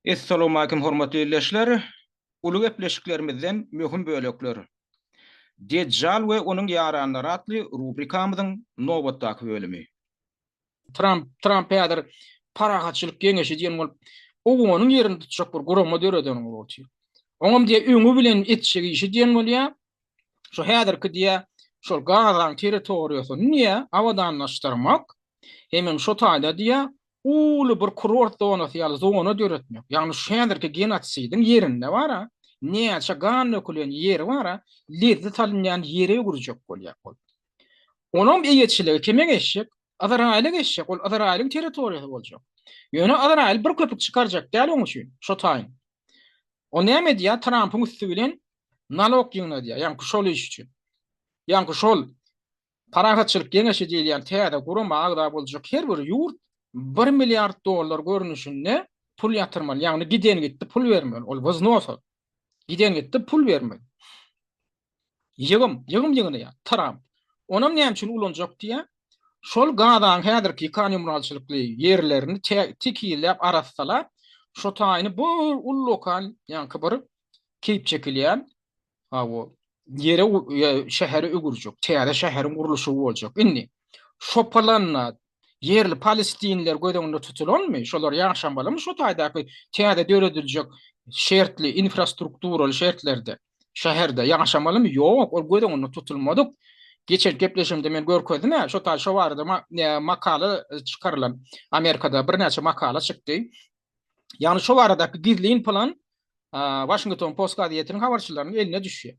Essalawmalikim hormatly ildeşler! Uly gepleşiklerimizden möhüm bölekler. Dejjal we onuň ýaranlary atly rubrikamyzyň nobatdaky bölümi. Tramp Tramp häzir Parahatçylyk geňeşi diýen bolup, owganyň ýerini tutjak bir gurama döreden bolup otyr. Oňam diýä öňi bilen etjek işi diýen bolýa, şu häzirki diýä şol Gazaň territoriýasyny diýä abadanlaşdyrmak, Hemen şo taýda diýýär, uly bir kurort zonasy ýaly zona döretmek. Ýagny şu häzirki genosidiň ýerinde bar-a, näçe gan dökülen ýeri bar-a, lezzi salynýan ýere öwürjek bolýar ol. Onuň eýeçiligi kime geçjek? Yzraýyla geçjek. Ol Yzraýylyň territoriýasy boljak. Ýöne Yzraýyl bir köpük çykarjak däl oň üçin şo taýyn. Ol näme edýär? Trampyň üsti bilen nalog ýygnadýar. Ýaňky şol iş üçin. Ýaňky şol Parahatçylyk geňeşi diýilýän täze gurama agza boljak her bir ýurt bir milliard dollar görnüşinde pul ýatyrmaly, ýagny giden-gitdi pul bermeli, ol wznosa, giden-gitdi pul bermeli. Ýygym, ýygym ýygnaýar Tramp. Onam näme üçin ulanjak diýýär? Şol Gazaň häzirki ýykan ýumralçylykly ýerlerini tekizläp, arassalap, şo taýyny bir ullakan, ýaňky bir keýp çekilýän Hawa. Ýere şähere öwürjek. Täze şäheriň gurluşy boljak. Indi şo planda ýerli palestinler göz öňünde tutulanmy? Şolar ýaşamalym şo taýdaky täze dörediljek şertli infrastrukturaly şertlerde? Şäherde ýaşamalymy? Ýok, ol göz öňünde tutulmadyk. Geçen gepleşimde men görkezdim, şo taý şo barada makala çykarylan. Amerikada birnäçe makala çykdy. Ýagny şu baradaky gizlin plan Washington Post gazetiniň habarçylarynyň eline düşýär.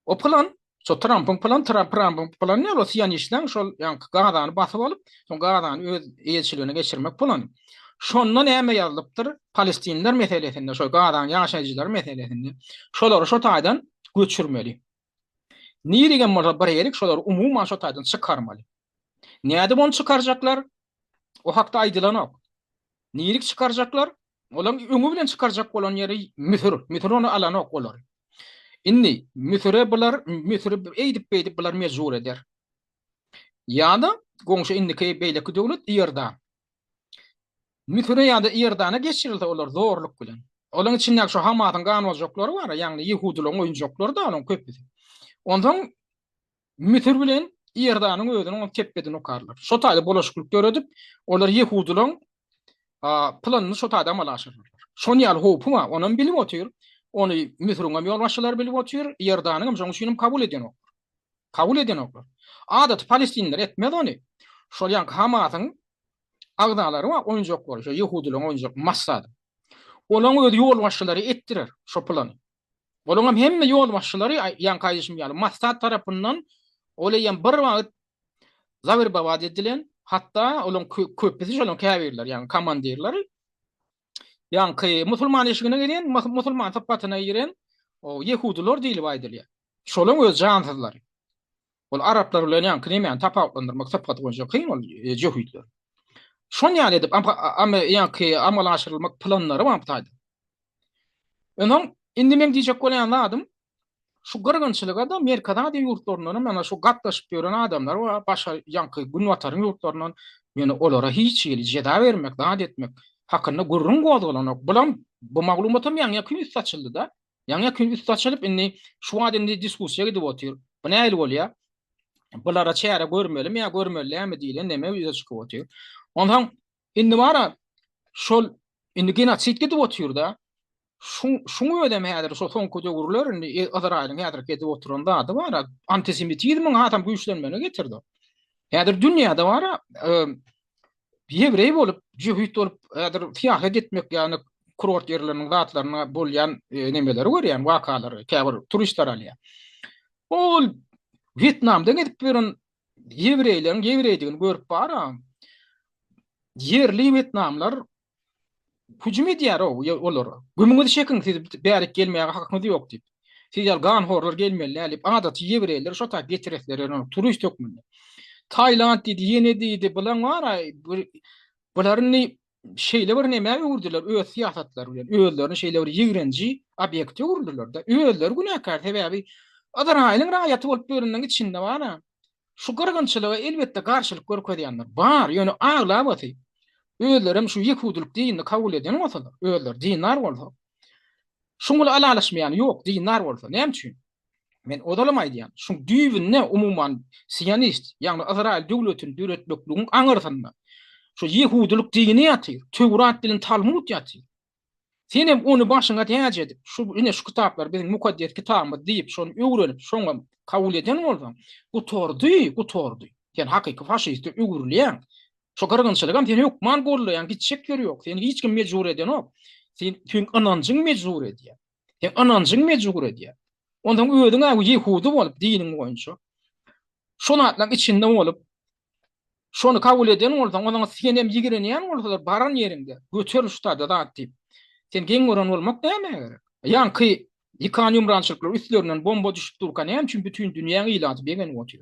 O plan Şo Trumpyň plan, Trump Trumpyň plan ne o siyan işleň, şol yani Gazany basyp alyp, şol Gazany öz eýeçiligine geçirmek plan. Şonda näme ýazylypdyr? Palestinler meselesinde, şol Gazanyň ýaşaýjylary meselesinde. Şolary şo taýdan göçürmeli. Nirigem bolsa bir erik şolary umuman şo taýdan çykarmaly. Nädip ony çykarjaklar? O hakda aýdylanok. Nirik çykarjaklar? Olaň öňi bilen çykarjak bolan ýeri Müsür. Müsür ony alanok olary. Indi Müsüre bular, Müsüri eýdip beýdip bular mejbur eder. Ýa-da goňşy indiki beýleki döwlet Iordan. Müsüre ýa-da Iordana geçirilse olar zorluk bilen. Olaryň içindäki şu Hamasyň ganoljaklary bar, ýagny ýehudylaryň oýunjaklary-da olaryň köpüsi. Onsoň Müsür bilen Iordanyň özüniň tepbedini okarlar. Şo taýda bolaşyklyk döredip, olar ýehudylaryň planyny şo taýda amala aşyrarlar. Şon ýaly howpy bar, onam bilip otyr. Ony Müsüriň hem ýolbaşçylary bilip otyr, Iordanyň hem şoň üçin hem kabul edýänoklar. Kabul edenoklar. Adaty palestinliler etmez ony. Şol ýaňky Hamasyň agzalary bar, oýunjaklary, şo ýehudylaryň oýunjak massady. Olaň öz ýolbaşçylary etdirer şo plany. Olaňam hemme ýolbaşçylary ýaňky aýdyşym ýaly Massad tarapyndan ol eýýäm bir wagt zawerbabat edilen, hatda olaň köpüsi şolaň käbirleri, ýagny komandirleri Ýaňky musulman eşigine gelen, musulman sypatyna giren o ýehudylar diýlip aýdylýar. Şolaryň öz jansyzlary. Ol araplar bilen ýaňky nämäni tapawutlandyrmak sypaty boýunça kyn ol e, jöhitler. Şon ýaly edip ýaňky amala aşyrylmak planlary wagtaýdy. Öňem indi men diýjek bolýan zadym şu gyrgynçylyga da Merkezi Aziýa ýurtlaryndan hem ýa-da şu gatnaşyp ýören adamlar bar, başga ýaňky Günbataryň ýurtlaryndan, ýöne olara hiç hili jeza bermek, zat etmek hakynda gürrüň gozgalanok. Bulam, bu maglumat hem ýaňy-ýakyn üst açyldy-da. Ýaňy-ýakyn üst açylyp, indi şu wagt indi diskussiýa gidip otyr. Bu nähili bolýar? Bulara çäre görmelimi ýa görmeli dälmi diýlen neme ýüze çykyp otyr. Onsoň, Indi mara şol indi genosid gidip otyrda. Şu şuň özem häzir şo soňky döwürler indi e, Izraýylyň häzir gidip oturan zady bar. Antisemitizmiň adam güýçlenmegine getirdi. Häzir dünýäde bar ýewreý bolup, jöhit bolup, häzir syýahat etmek ýagny kurort ýerleriniň zatlaryna bolýan e, nemeleri görýän wakalary, käbir turistler alýar. Ol Wýetnamda gezip ýören ýewreýleriň ýewreýdigini görüp baram, ýerli wetnamlar hüjüm edýär o olara. Gümüňizi çekiň, siz bärik gelmäge hakyňyz ýok diýip. Siz ýaly ganhorlar gelmeli däl diýip, adaty ýewreýleri şo taýy getiresler ýöne turist hökmünde. Taýland diýdi, ýene diýdi, bulan bar-a, bularyny şeýle bir nämä öwürdiler öz syýasatlary bilen, özlerini şeýle bir ýigrenji obýekte öwürdiler-de, özleri günäkär, sebäbi Yzraýylyň raýaty bolup ýörenleriň içinde bar-a, şu gyrgynçylyga elbetde garşylyk görkezýänler bar, ýöne aglabasy, özleri hem şu ýehudylyk dinini kabul eden bolsalar, özleri dindar bolsa, şuňa alalaşmaýany ýok, dindar bolsa, näme üçin? Men ozalam aýdýan, şu düýbünde umuman sionist, ýagny Ysraýyl döwletini döretmekligiň aňyrsynda şu ýehudylyk dini ýatyr, Töwrat bilen Talmud ýatyr. Sen hem ony başyňa täç edip, şu ine şu kitaplar biziň mukaddes kitabymyz diýip, şony öwrenip, şoňa kabul eden bolsaň, gutardy, gutardy. Sen hakyky faşiste öwrülýäň. Şu gyrgynçylygam seni hökman gollaýan gitjek ýeri ýok. Seni hiç kim mejbur edenok. Sen tüm ynanjyň mejbur edýär. Seň ynanjyň mejbur edýär. Onsoň özüň-ä ýehudy bolup, diniň boýunça şu zatlaryň içinde bolup, şony kabul eden bolsaň, onsoň sen hem ýigrenýän bolsalar, baran ýeriňde, göter şu tada zat diýip, sen geň gören bolmak nämä gerek? Ýaňky ýykan ýumrançylyklar üstlerinden bomba düşüp durka näme üçin bütin dünýäň ilaty begenip otyr?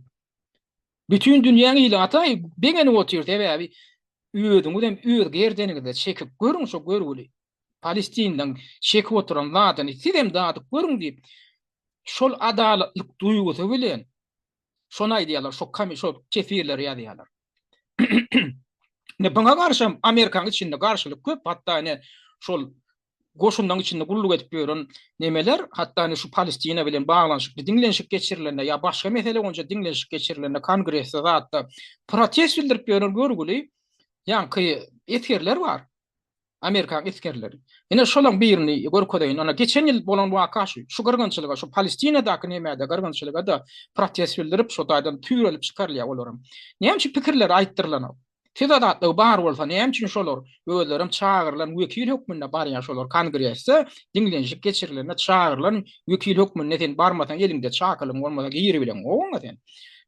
Bütin dünýäň ili Ataý begenip otyr sebäbi özüňizem öz gerdeniňize çekip görüň şo görgüli Palestindan çekip oturan zadyny sizem dadyp görüň diýip şol adalatlyk duýgusy bilen şony aýdýarlar şo şo teswirleri ýazýarlar. Ine buňa garşam Amerikanyň içinde garşylyk köp hatda ine şol goşunlaryň içinde gulluk edip ýören nemeler, hatda indi şu Palestina bilen baglanyşykly diňlenişik geçirilende ýa başga mesele boýunça diňlenişik geçirilende kongresde zatda protest bildirip ýören görgüli ýaňky esgerler bar. Amerikan esgerleri. Ine şolaryň birini görkezeýin. Ana geçen ýyl bolan waka şu. Şu gyrgynçylyga, şu Palestinadaky nämede gyrgynçylyga da protest bildirip, şu taýdan tüýrelip çykarylýar olaryň. Näme üçin pikirleri aýtdyrylanok? Siz azatlygy bar bolsa näme üçin şolar özlerem çagyrylan wekil hökmünde barýan şolar kongresde diňlenişik geçirilende çagyrylan wekil hökmünde sen barmasaň eliňde çakylygyň bolmasa giribileň gowyňa sen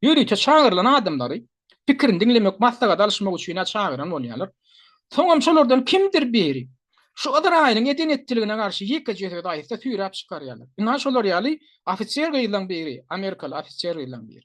ýörite çagyrylan adamlary pikirini diňlemek maslahat alyşmak üçin-ä çagyran bolýarlar soňam şolardan kimdir biri şu yzraýylyň eden etdiligine garşy ýekeje söz aýtsa süýräp çykarýarlar ynha şolar ýaly ofiser gyzlaň biri amerikaly ofiser gyzlaň biri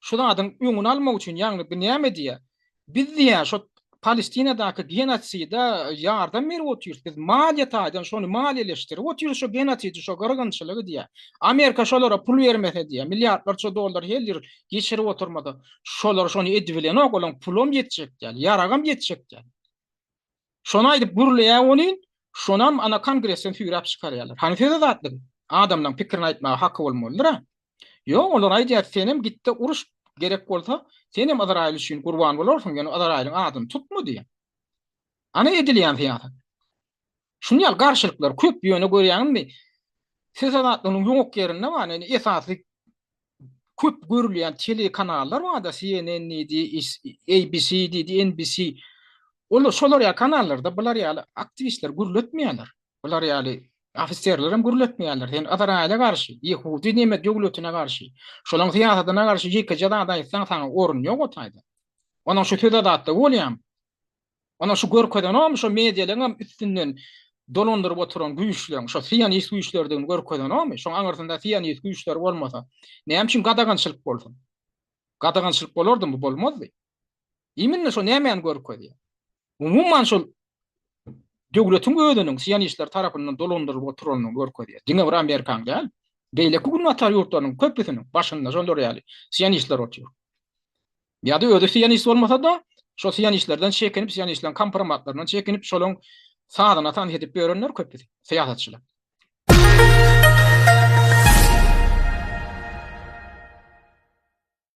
şu zadyň öňüni almak üçin ýagny bu näme diýýär? Biz diýýär şo Palestinadaky genosida ýardam berip otyrys. Biz maliýe taýdan şony maliýeleşdirip otyrys şo genosidi, şo gyrgynçylygy diýýär. Amerika şolara pul bermese diýýär, milliardlarça dollar her ýyl geçirip oturmasa, şolar şony edibilenok, olaň pulam ýetjek däl, ýaragam ýetjek däl. Şony aýdyp gürleýär welin, şonam ana kongresden süýräp çykarýarlar. Hany söz azatlygy? Adamlaň pikirini aýtmaga haky bolmalydyr-a? Ýok, olar aýdýar, senem gitde uruş, gerek bolsa, senem Yzraýyl üçin gurban bolarsyň, ýöne Yzraýylyň adyny tutma diýýär. Ana edilýän syýasat. Şuny ýaly garşylyklar köp, ýöne görýäňizmi, söz azatlygynyň ýok ýerinde bar, indi esasy köp görülýän telekanallar bar-da, CNN diýdi, ABC diýdi, NBC. Olar şolar ýaly kanallarda bular ýaly aktiwistleri gürletmeýärler. Bular ýaly ofiserleri hem gürletmeýärler. Sen Ysraýyla garşy, ýehudy näme döwletine garşy, şolaryň syýasatyna garşy ýekeje zat aýtsaň, saňa orun ýok o taýda. Onuň şu söz adatda bolýamy? Ana şu görkezenom şo medialeňem üstünden dolandyryp oturan güýçleň şo sionist güýçlerdigini görkezenomy? Şoň aňyrsynda sionist güýçler bolmasa, näme üçin gadagançylyk bolsun? Gadagançylyk bolardymy? Bolmazdy. Iminle şo nämäni görkezýär? Umuman şol döwletiň özüniň sionistler tarapyndan dolandyrylyp oturanyny görkezýär. Diňe bir Amerikaň däl, beýleki günbatar ýurtlarynyň köpüsiniň başynda şolar ýaly sionistler otyr. Ýa-da özi sionist bolmasa-da, şo sionistlerden çekinip, sionistleriň kompromatlaryndan çekinip, şolaryň sazyna tans edip ýörenler köp biziň syýasatçylar.